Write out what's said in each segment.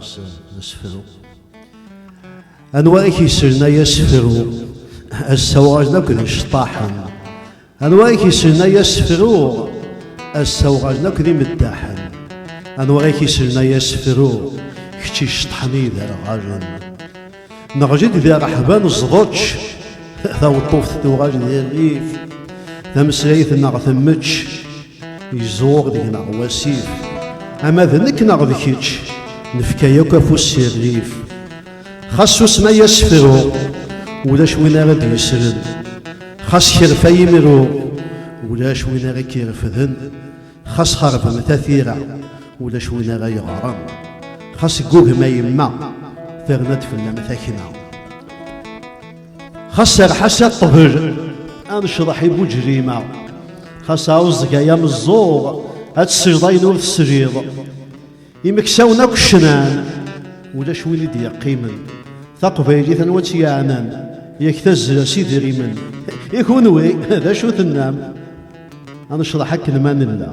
s asefru anwa i k-yeslen ay asefru assawagen akk d iceṭṭaḥen Anwa i k-islen ay asefruɣ ass-a uɣalen akk d imeddaḥen Anwa i k-islen ay asefruɣ kečč iceṭḥen i iderɣalen Neɣli-d di rreḥba neẓḍečč Taweṭṭuft tuɣal di rrif Tameslayt-nneɣ temmečč Iẓur deg-neɣ wasif Ama d nekk neɣ d kečč Nefka yakk afus si rrif Xas usma yasfru ulac win ara d-yesren Xas kerfa yimru ulac win ara k-irefden Xas xerbem tatira ulac win ara yeɣren Xas ggugma yemma terna-d fell-am takna Xas serḥas a ṭṭbel ad necḍeḥ i buǧrima Xas ɛuẓẓeg ay ameẓẓuɣ ad tesleḍ ayen ur tesliḍ Imeksawen akk cnan, ulac win i d-yeqqimen. Taqbaylit anwa tt-yeɛnan, yak tazra s idrimen. I kunwi, d acu tennam? Ad necḍeḥ akken ma nella.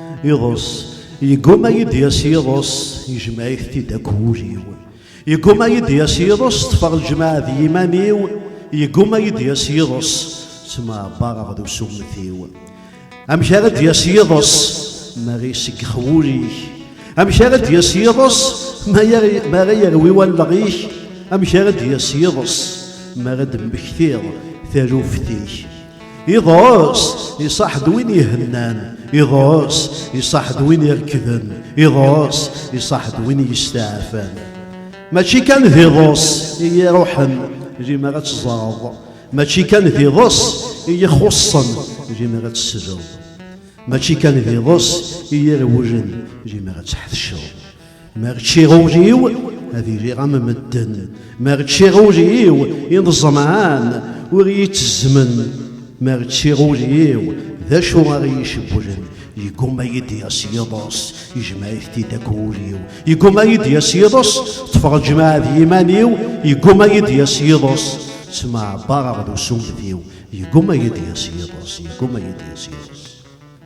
Iḍes, yegguma-yi d-yas yiḍes, yejmeɛ-it-id akk wul-iw. Yegguma-yi d-yas yiḍes, ṭṭfeɣ lejmaɛ d yiman-iw, yegguma-yi d-yas yiḍes, ttmeɛbareɣ d usummet-iw. Amek ara d-yas yiḍes, ma ara iseggex wul-ik? Amek ara d-yas yiḍes, ma ara yerwi wallaɣ-ik? Amek ara d-yas yiḍes, mi ara d-temmektiḍ taluft-ik? Iḍes iṣaḥ-d win ihennan, iḍes iṣaḥ-d win irkden, iḍes iṣaḥ-d win yesteɛfan. Mačči kan d iḍes i iruḥen limer ad teẓreḍ, mačči kan d iḍes i ixuṣṣen limer ad tesleḍ, mačči kan d iḍes i irewlen limer ad tḥetceḍ. Ma ččiɣ ul-iw ad iliɣ am medden, ma ččiɣ ul-iw i ẓemɛan ur iyi-ttezzmen, ma ččiɣ ul-iw d acu ara iyi-cewwlen, yegguma ad iyi-d-yas yiḍes, yejmeɛ-it-id akk wul-iw, yegguma ad iyi-d-yas yiḍes, ṭṭfeɣ lǧemɛa d yiman-iw, yegguma ad iyi-d-yas yiḍes, ttmeɛbareɣ d usummet-iw, yegguma ad iyi-d-yas yiḍes, yegguma ad iyi-d-yas yiḍes.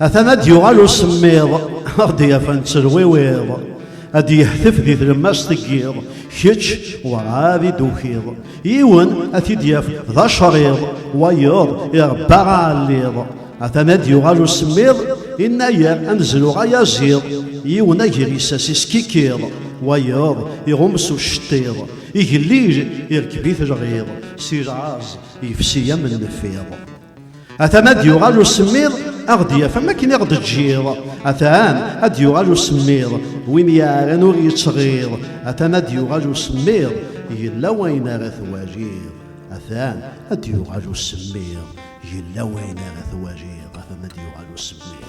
Atan ad d-yuɣal usemmiḍ, ad d-yafan ttelwiwiḍ, ad d-yehtef di tlemmast n yiḍ, kečč werɛad i d-tukiḍ. Yiwen ad t-id-yaf d acerriḍ, wayeḍ irebba aɛelliḍ. Atan ad d-yuɣal usemmiḍ, inna-yar amezruɣ ay aziḍ, yiwen agris-as iskikkiḍ, wayeḍ iɣum s ucettiḍ. Igellil irkeb-it lɣiḍ, si lɛerz yefsi am nnfiḍ. Atan ad yuɣal usemmiḍ ad ɣ-d-yaf am akken i ɣ-d-ǧǧiḍ atan ad yuɣal usemmiḍ win yeɛran ur yettɣiḍ atan ad yuɣal usemmiḍ yella wayen ara twaliḍ atan ad yuɣal usemmiḍ yella wayen ara twaliḍ atan ad yuɣal usemmiḍ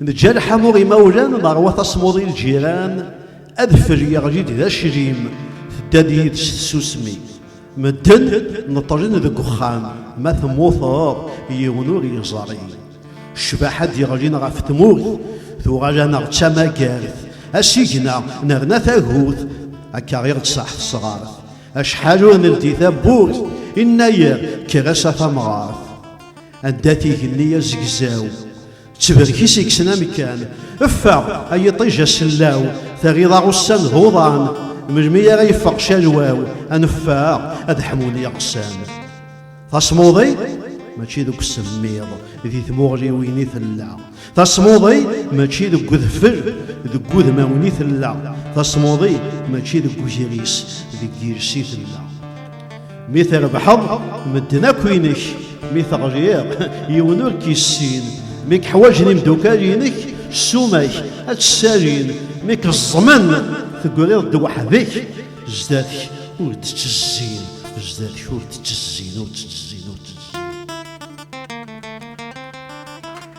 Neǧǧa lḥamu imawlan neṛwa tasmuḍi lǧiran, adfel yeɣli-d d aclim, tedda-d yid-s tsusmi. Medden neṭṭlen deg uxxam, ma temmuteḍ yiwen ur yeẓri. Ccbaḥa d-yeɣlin ɣef tmurt, tuɣal-aneɣ d tamagart, asigna nerna tagut, akka i ɣ-d-tṣaḥ tesɣart. Acḥal ur neldi tawwurt, innayer kker-as a tamɣart. Anda-t igenni azegzaw? Ttberk-is ikksen amekkan. Ffeɣ, ay iṭij asellaw, terriḍ-aɣ ussan d uḍan. Melmi ara yeffeɣ calwaw, a neffeɣ, ad ḥmun yiɣsan. Tasmuḍi, mačči deg usemmiḍ, di tmuɣliwin i tella. Tasmuḍi, mačči deg udfel, deg udmawen i tella. Tasmuḍi, mačči deg ugris, deg yiles i tella. Mi trebḥeḍ, medden akk inek. Mi teɣliḍ, yiwen ur k-yessin. Mi keḥwaǧen imdukal-inek, ssuma-k ad tt-ssalin. Mi keẓẓmen, tegriḍ-d weḥd-k. Zdat-k ur d-ttezzin, zdat-k ur d-ttezzin, ur d-ttezzin.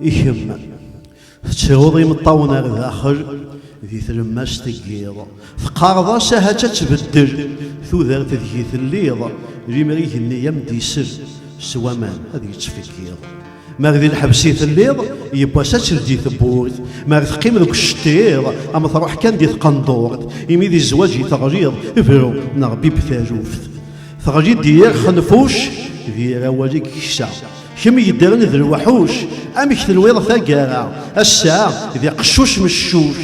Ikem, tettruḍ imeṭṭawen ar daxel, di tlemmast n yiḍ. Teqqareḍ-as aha ad tbeddel, tudert deg-i telliḍ, limer igenni am d-isel, s waman ad yettfeggiḍ. Mar di lḥebs i telliḍ, yiwwas ad teldi tewwurt. Mar teqqim deg uceṭṭiḍ, am truḥ kan di tqendurt. Imi di zzwaǧ i teɣliḍ, bru neɣ bibb taluft. Teɣli-d di yir xenfuc, d yir awal i yeksa. Kemm yeddren d lweḥuc, amek tenwiḍ taggara? Ass-a d iqeccuc meccuc,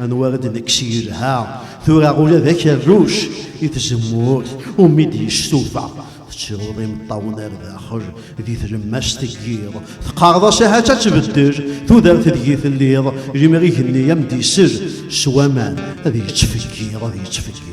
anwa ara d-nekkes yelha? Tura ula d akerruc, i tzemmurt umi d-yestufa. Tettruḍ imeṭṭawen ar daxel di tlemmast n yiḍ. Teqqareḍ-as ahat ad tbeddel tudert deg-i telliḍ, limer igenni am d-isel s waman ad yettfeggiḍ, ad yettfeggiḍ.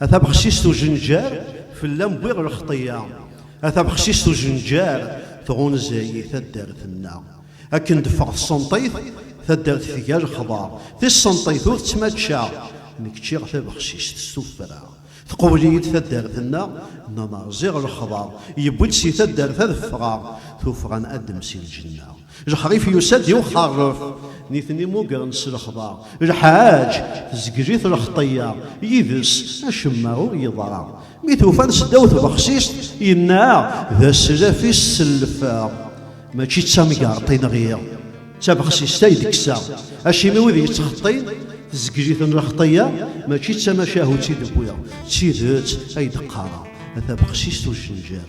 A tabexsist ujenjar, fell-am wwiɣ lexṭiyya. A tabexsist ujenjar, tɣunza-yi taddart-nneɣ. Akken d-ffeɣ tsenṭit, taddart tga lexḍa. Tissenṭit ur tt-mačča, nekk ččiɣ tabexsist s tuffra. Tqewwel-iyi-d taddart-nneɣ, nnaneɣ ziɣ lexḍa yewwi-d si taddart ad ffɣeɣ, tuffɣa n Adem si lǧenna. Lḥerif yusa-d i uḥerref, nitni mmugren s lexḍa. Lḥaǧ, tezgel-it lxeṭṭeyya, yid-s acemma ur yeḍra. Mi t-ufan s ddaw tbexsist, yenna, D aslaf i sellfeɣ, mačči d tamgerḍt i nɣiɣ, d tabexsist ay d-kkseɣ. Acimi wid yettxeṭṭin, tezgel-iten lxeṭṭeyya, mačči d tamacahut i d-wwiɣ, d tidet ay d-qqareɣ, a tabexsist ujenjar.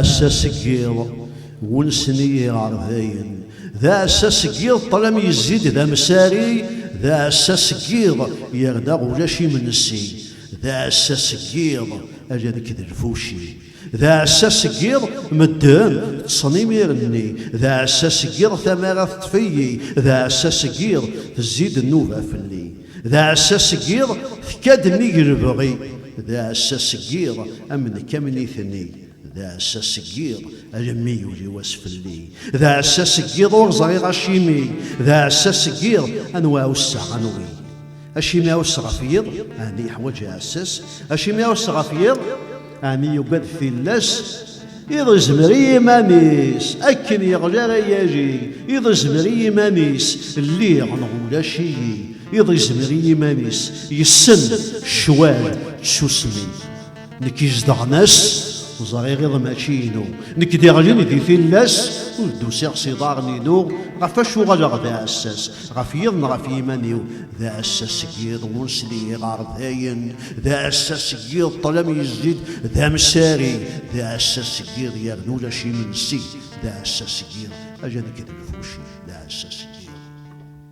aɛassa seg yiḍ wunsen i yiɣerdayen d aɛassa seg yiḍ ṭlam yezzid d amsari d aɛassa seg yiḍ yerna ulac imensi d aɛassa seg yiḍ ala nekk d lfuci D aɛessa seg yiḍ, medden ṭṭsen imir-nni. D aɛessa seg yiḍ, tamara teṭṭef-iyi. D aɛessa seg yiḍ, tezzi-d nnuba fell-i. D aɛessa seg yiḍ, tekka-d nnig lebɣi. D aɛessa seg yiḍ, am nekk am nitni. D aɛessa seg yiḍ, alemmi yuli wass fell-i. D aɛessa seg yiḍ, ur ẓriɣ acimi. D aɛessa seg yiḍ, anwa ɛusseɣ anwi. Acimi aɛuss ɣef yiḍ, ɛni yeḥwaǧ aɛessas? Acimi aɛuss ɣef yiḍ, ɛni yugad tillas? Iḍ izmer i yiman-is, akken yeɣli ara yali. Iḍ izmer i yiman-is, lliɣ neɣ ulac-iyi. Iḍ izmer i yiman-is, yessen ccwal d tsusmi. nekk izedɣen ass ẓriɣ iḍ mačči inu nekk d iɣlin di tillas ur d-usiɣ s iḍarren inu ɣef acu ɣaleɣ d aɛessas ɣef yiḍ n ɣef yiman-iw d aɛessas seg yiḍ ur sliɣ ɣer dayen d aɛessas seg yiḍ ṭlam yezzid d amsari d aɛessas seg yiḍ yernu ulac imensi d aɛessas seg yiḍ aja nekk d lfuci d aɛessas seg yiḍ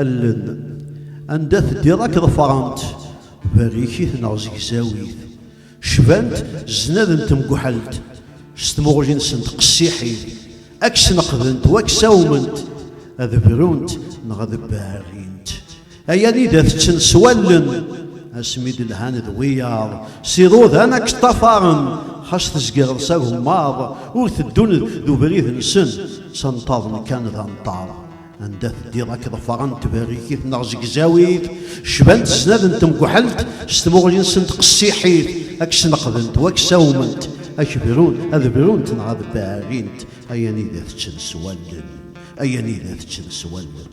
allen anda teddiḍ akk ḍefrent berrikit neɣ zegzawit cbant znad n temguḥelt s tmuɣli-nsent qessiḥit ad k-sneqdent wa k-sawment ad brunt neɣ ad berrin Ay anid ad teččen s wallen asmi d-lhan d wiyaḍ s iḍudan ad k-ṭṭafaren xas tezgireḍ s agemmaḍ ur teddun d ubrid-nsen s anṭaḍen kan d anṭaḍ anda teddiḍ ad k-ḍefaren tberrikit neɣ zegzawit cbant snad n temguḥelt s tmuɣli-nsen tqessiḥit ad k-sneqdent wa k-sawment ad k-brun ad brunt neɣ ad berrint ay anida teččen s wallen ay anida teččen s wallen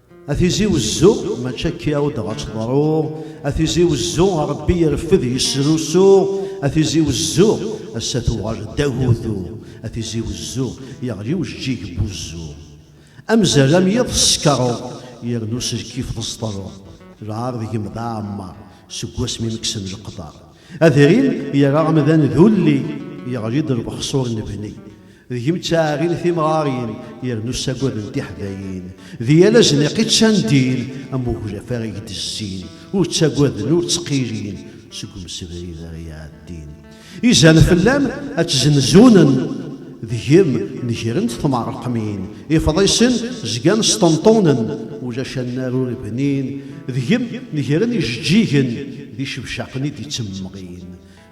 A Tizi Wezzu, mačči akka i aw-d ɣa tt-ḍruɣ, a Tizi Wezzu, a Rebbi ireffed yesrusu, a Tizi Wezzu, ass-a tuɣal d agudu, a Tizi Wezzu, yeɣli ujeǧǧig n wuzzu. Amzal am yiḍ teskeṛeḍ, yernu s lkif teẓṭreḍ, lɛar deg-m d aɛemmeṛ, seg wasmi m-kksen leqder. Adrim yerra amdan d ulli, yeɣli-d lbeḥṣur n bni. D gem ttaɛrin timɣarin, yernu ssagaden tiḥdayin. D yal azniq i ččan ddin, am uglaf ara gdezzin. Ur ttagaden, ur ttqilin, seg umsebrid ara iɛeddin. Izan fell-am ad tt-zzenzunen, d gem negren-d tmeṛqmin. Ifḍisen zgan sṭenṭunen, ulac annar ur bnin. Deg-m negren ijeǧǧigen d icebcaqen i d-ittemmeɣin.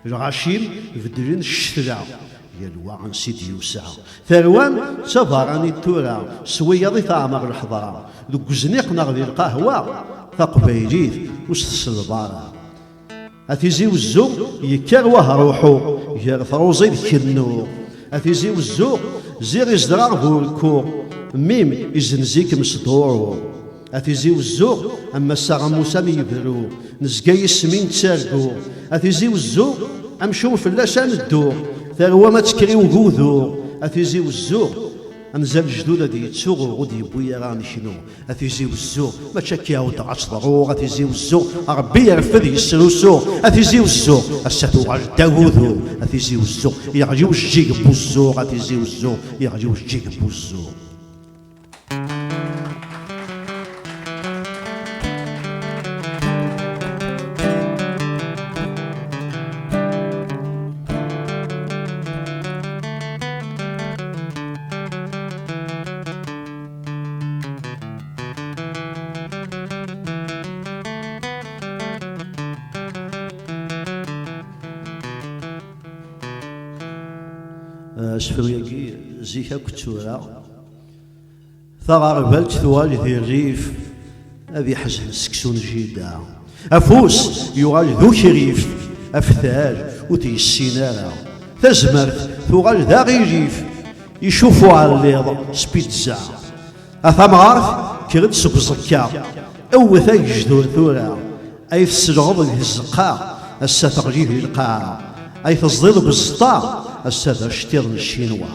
Lɣaci-m beddlen ccetla, yal wa ansi d-yusa. Tarwa-m d tabaranit tura, s wiyaḍ i teɛmer lḥeḍra. Deg uzniq neɣ di lqahwa, taqbaylit ur s-tselleḍ ara. A tizi wezzu yekker wahruḥu gar truẓi d kennu. A tizi wezzu ziɣ izedreɣ bu rekku mim izenzikem s duṛu. A tizi wezzu am massa am musa mi yebru nezga yis-mi nettargu. A tizi wezzu amcum fell-as ad neddu tarwa ma tekker i ugudu. A tizi wezzu anza lejdud ad d-yettuɣu ur d-yewwi ara ad neknu. A Tizi Wezzu, mačči akka i ɛuddeɣ ad teḍru, a Tizi Wezzu, Ṛebbi ireffed yesrusu, a Tizi Wezzu, ass-a tuɣal-d agudu, a Tizi Wezzu, yeɣli ujeǧǧig n wuzzu, a Tizi Wezzu, yeɣli ujeǧǧig n wuzzu. asefru-agi zik akk ttura taɣerbalt tuɣal di rrif Ad iḥzen seksu n jida. Afus yuɣal d ukrif, aftal ur t-yessin ara. Tazmert tuɣal d aɣilif, icuf uɛelliḍ s pizza. A tamɣart kker-d seg uẓekka, ewwet agejdur tura. Ay tesleɣeḍ deg tzeqqa, ass-a teɣli di lqaɛa. Ay teẓdiḍ deg uzeṭṭa, ass-a d aceṭṭiḍ n Ccinwa.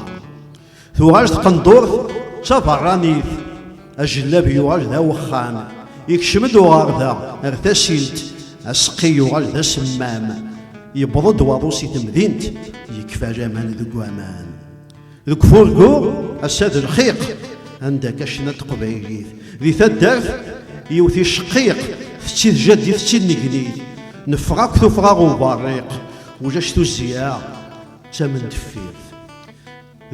Tuɣal tqendurt d taberranit, ajellab yuɣal d awexxam, ikcem-d uɣerda ar tasilt, aseqqi yuɣal d asemmam, yewweḍ-d waḍu si temdint, yekfa laman deg waman. Deg ufurgu, ass-a d lxiq, anda akka cna teqbaylit, di taddart yiwet icqiq, tettid jaddi tettid negnit, neffeɣ akk tuffɣa uberriq, ulac tuzziya, d tamendeffirt.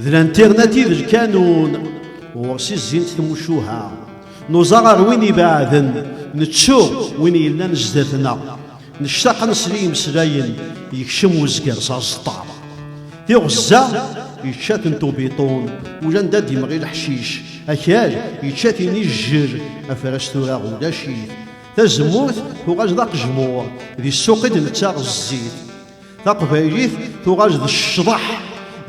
D lantirnat i d lkanun, ɣur-s i zzint tmucuha. Nuẓa ɣer win ibeɛden, nettu win yellan zdat-neɣ. Nectaq ad nesli imeslayen, yekcem wezger s aẓeṭṭa. Tiɣezza yečča-ten tubiṭun, ulanda d-imɣi leḥcic. Akal yečča-t-in ijjer, afras tura ulac-it. Tazemmurt tuɣal d aqejmur, di ssuq i d-nettaɣ zzit. taqbaylit tuɣal d ccḍeḥ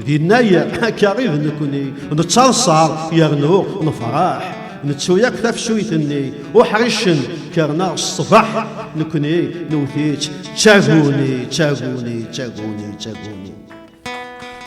di nnayer akka i d nekni nettaḍṣar yernu nefraḥ nettu yakk tafsuyt-nni uḥricen kerna ṣṣbeḥ nekni newwet-itt d taguni d taguni d taguni d taguni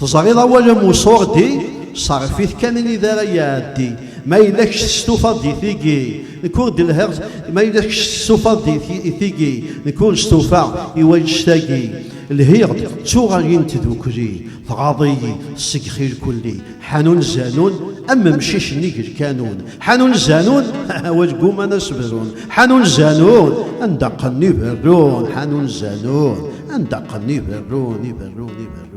Teẓriḍ awal am usurdi, ṣerref-it kan anida ara iɛeddi. Ma yella kečč testufaḍ di tigi, nekk ur d-lhiɣ, ma yella kečč testufaḍ di tigi, nekk ur stufaɣ i wannect-agi. Lhiɣ-d, ttuɣ agi n tdukli, tɣaḍ-iyi, segxi lkulli. Ḥanun Zanun, am umcic-nni deg lkanun. Ḥanun Zanun, awal gguman ad s-brun. Ḥanun Zanun, anda qqnen iberrun. Ḥanun Zanun, anda qqnen iberrun, iberrun, iberrun.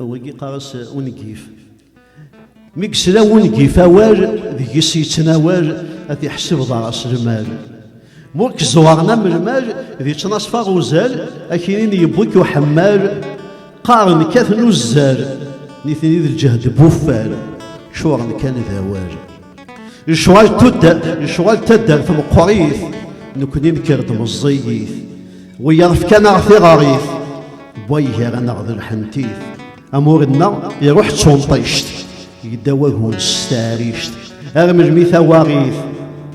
wigi qqar-as ungif mi yesla wungif awal deg-s yettnawal ad iḥseb ḍar-as lmal ma ur k-ẓewren am lmal d ittnaṣfa uzal akinin yewwi-k uḥemmal qqaren kkaten uzzal nitni d lǧehd buffal ččuren kan d awal Yecɣal tuddar, yecɣal taddart meqqrit, nekkni nekker-d meẓẓiyit. Wiyaḍ fkan-aɣ tiɣarit, wwa igar-aneɣ d lḥentit. Amur-nneɣ iruḥ d tunṭict, yedda wagun s taɛrict. Ar melmi tawaɣit,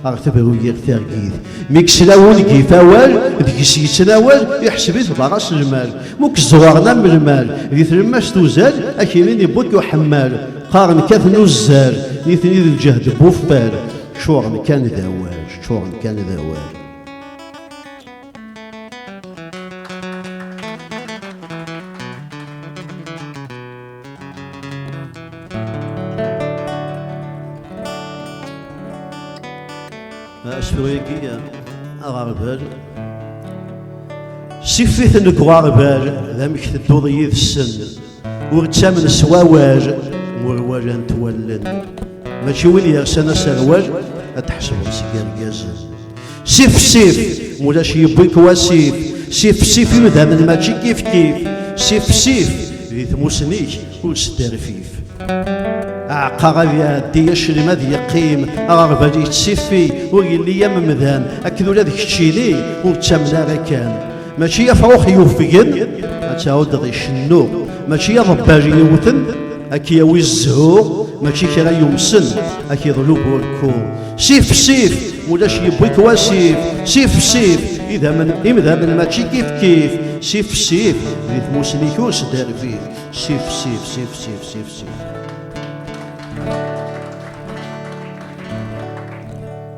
ar tebru yir targit. Mi yesla wungif awal, deg-s yettnawal, iḥseb-it d aras lmal. Mu k-ẓẓuɣren am lmal, di tlemmast uzal, akinin iwwi-k uḥemmal. Qqaren katen uzzal, nitni d lǧehd n wuftal, ččuren kan d awal, ččuren kan d awal. Asefru-agi aɣerbal sifiten deg uɣerbal d amek tedduḍ yid-sen Ur ttamen s wawal n urwalent wallen. Mačči win yersan aserwal ad tḥesbeḍ seg irgazen. Sifsif, mulac yewwi-k wasif, sifsif imdamen mačči kifkif, sifsif di tmusni-k ur sderfif. Aɛeqqaɣ ad iɛeddi aclim ad yeqqim, aɣerbal yettifi ur yelli am mdan, akked ula d keččini ur ttamen ara kan. mačči afṛux yufgen ad tɛuddeḍ icennu mačči aḍebbal yewten ad k-yawi zzhu mačči kra yumsen ad k-iḍlu burku sif sif ulac yewwi-k wasif sif sif idammen imdamen mačči kif kif sif sif di tmusni-k ur sderbit sif sif sif sif sif sif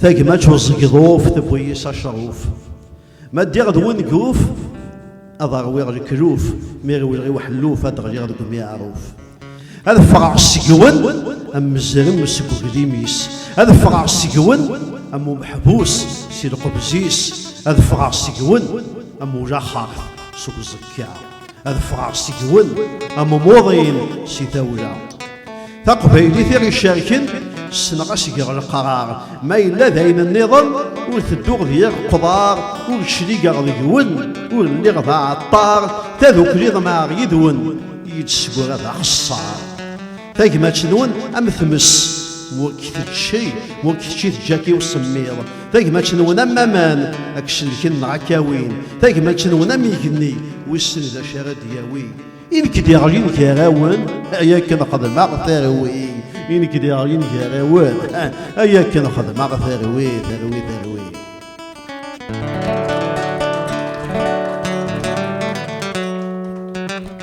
Tagmat uẓegḍuf tewwi-yi s aceṛuf Ma ddiɣ d wenguf ad ṛwiɣ lekluf Mi rewleɣ i uḥelluf ad ɣliɣ deg umiɛruf Ad ffɣeɣ seg-wen am mezrem seg uglim-is Ad ffɣeɣ seg-wen am umeḥbus si lqebz-is Ad ffɣeɣ seg-wen am ulaxeṛt seg uẓekka ad ffɣeɣ seg-wen am umuḍin si tawla taqbaylit i ɣ-icerken ssneɣ asgeɣ leqrar ma yella d ayen nniḍen ur tedduɣ di yir qḍar ur cligeɣ deg-wen ur lliɣ d aɛeṭṭar tadukli ḍemɛeɣ yid-wen yid-sgur ad axeṣṣar tagmat-nwen am tmes ur k-tečči ur k-tečči teǧǧa-k i usemmiḍ tagmačnwen am aman ad k-celken neɣ ad k-awin tagmačnwen am igenni wissen d acu ara d-yawi i nekk d iɣlin gar-awen ay akken xedmeɣ tarwi i nekk d iɣlin gar-awen ay akken xedmeɣ tarwi tarwi tarwi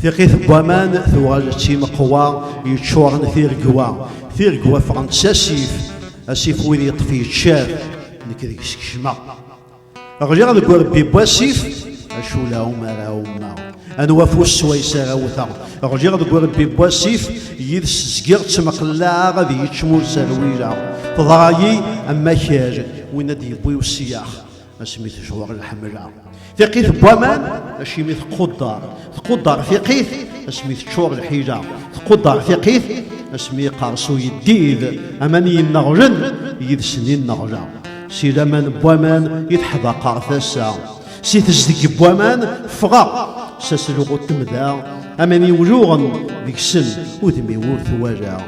Tiqit n waman tuɣal d timeqwa yeččuren tirgwa, tirgwa ffɣent s asif, asif wid yeṭṭef yeččar, nekk deg-s kecmeɣ. Ɣliɣ deg urebbi n wasif, acu la umar a ummaɣ. Anwa afus swayes ara wteɣ, ɣliɣ deg urebbi n wasif, yid-s zgiɣ ttmeqlaɛeɣ ad yečč mur zerwileɣ. Teḍra-yi am akal, win ad d-yewwi usiyax. asmi tejweṛ lḥemla. Tiqit n waman, acimi tqudeṛ. Tqudeṛ tiqit, asmi teččuṛ lḥila. Tqudeṛ tiqit, asmi iqerṣu yeddid, aman i yenneɣlen, yid-sen i nneɣleɣ. Si laman n waman i teḥdaqeɣ tasa, si tezdeg n waman ffɣeɣ, s aselɣu n temda, aman i wluɣen deg-sen udem-iw ur t-walaɣ.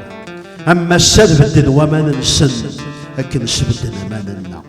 Am massa nbeddel waman-nsen, akken sbedden aman-nneɣ.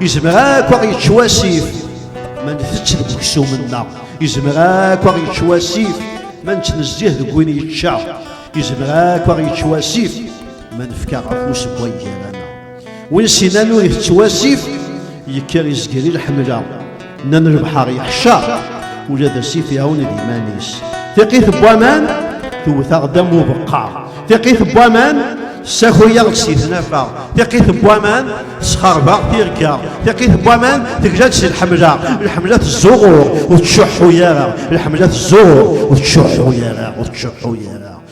Izmer akk ad yečč wasif ma ntett deg uksum-nneɣ. Izmer akk ad yečč wasif ma nettnezzih deg win yečča. Izmer akk ad yečč wasif ma nefka afus n wayyaran. Win sinan ur itett wasif yekker izger i lḥemla. Nnan lebḥer yeḥca, ula d asif iɛawen d iman-is. Tiqit n waman tewwet-aɣ-d am ubeqqa. Tiqit n waman ssakuy-aɣ-d si tnafa. Tiqit n waman tesxerbeɣ tirga. Tiqit n waman tegla-d si lḥemla. Lḥemla tezzuɣur ur tcuḥḥu ara. Lḥemla tezzuɣur ur tcuḥḥu ara, ur tcuḥḥu ara.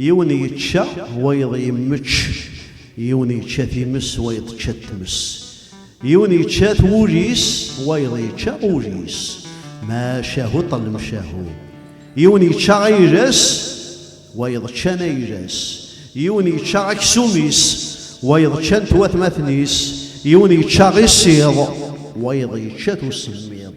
Yiwen yečča, wayeḍ yemmečč, yiwen yečča times, wayeḍ tečča tmes. Yiwen yečča twul-is, wayeḍ yečča ul-is. Macahu ṭellem cahu. Yiwen yečča ayla-s, wayeḍ ččan ayla-s. Yiwen yečča aksum-is, wayeḍ ččan-t watmaten-is. Yiwen yečča iṣiḍ, wayeḍ yečča-t usemmiḍ.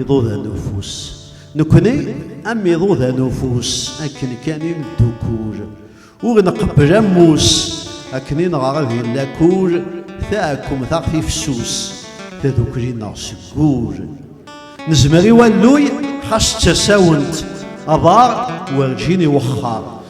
Iḍudan ufus. Nekkni am iḍudan ufus, akken kan i neddukul. Ur nqebbel ammus, akken i neɣra di lakul, taɛkumt aɣ tifsus, tadukli-nneɣ seg wul. Nezmer i walluy, xas d tasawent, aḍar werǧin iwexxar.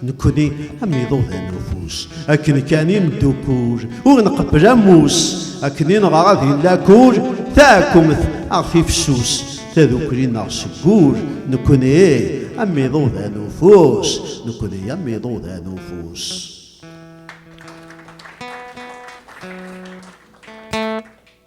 Nekkni am iḍudan n ufus, akken kan i neddukul, ur nqebbel ammus, akken i nɣer ad yella kul, taɛkumt aɣef ifessus, tadukli neɣ seg wul, nekkni am iḍudan n ufus, nekkni am iḍudan n ufus.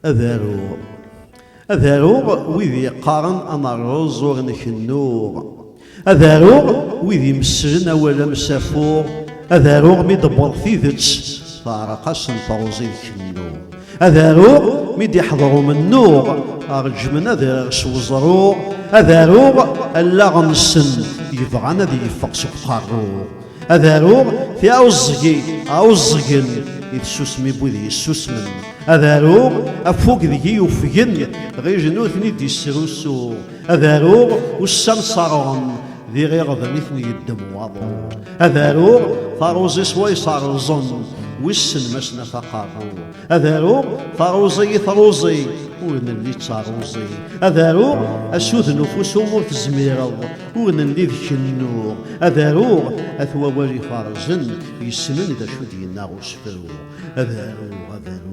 Ad aruɣ, ad aruɣ wid yeqqaren amerreẓ ur nkennuɣ, ad aruɣ wid imesslen awal amsafu, ad aruɣ mi d-tewweḍ tidet teɛreq-asen teṛẓi d kennu, ad aruɣ mi d-iḥḍer umennuɣ reǧmen ad rreɣ s weẓru, ad aruɣ allaɣ-nsen yebɣan ad yeffeɣ seg uqerru. ad aruɣ tiɛuẓẓgi ɛuẓẓgen i tsusmi wid yessusmen ad aruɣ afug deg-i yufgen ɣij nutni d-yesrusu ad aruɣ ussan ṣerɣen d iɣiɣden i ten-yeddem waḍu ad aruɣ taruẓi s way ṣerẓen wissen ma s nafaqaɣ ad aruɣ taruẓi i taruẓi ur nelli d taruẓi ad aruɣ asud n ufus ur tezmireḍ ur nelli d kennuɣ ad aruɣ at wawal ifarzen yessnen d acu d-yenna usefru ad aruɣ ad aruɣ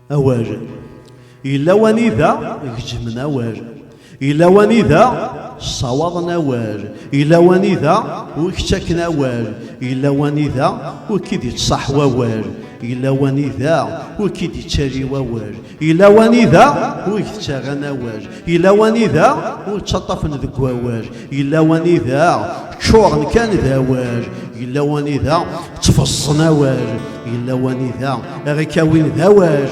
awal yella wanida gejmen awal yella wanida ssawaḍen awal yella wanida ur k-ttaken awal yella wanida ur k-id-ittṣaḥ wawal yella wanida ur k-id-ittali wawal yella wanida ur k-ttaran awal Yella wanida ur ttaṭṭafen deg wawal, yella wanida ččuren kan d awal, yella wanida ttfeẓẓen awal, yella wanida ara kawin d awal,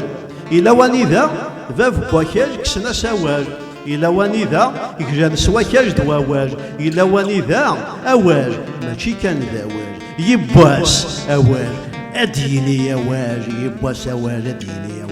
yella wanida bab n wakal kksen-as awal, yella wanida glan s wakal d wawal, yella wanida awal mačči kan d awal, yibbwas awal ad d-yini awal, yibbwas awal ad d-yini awal.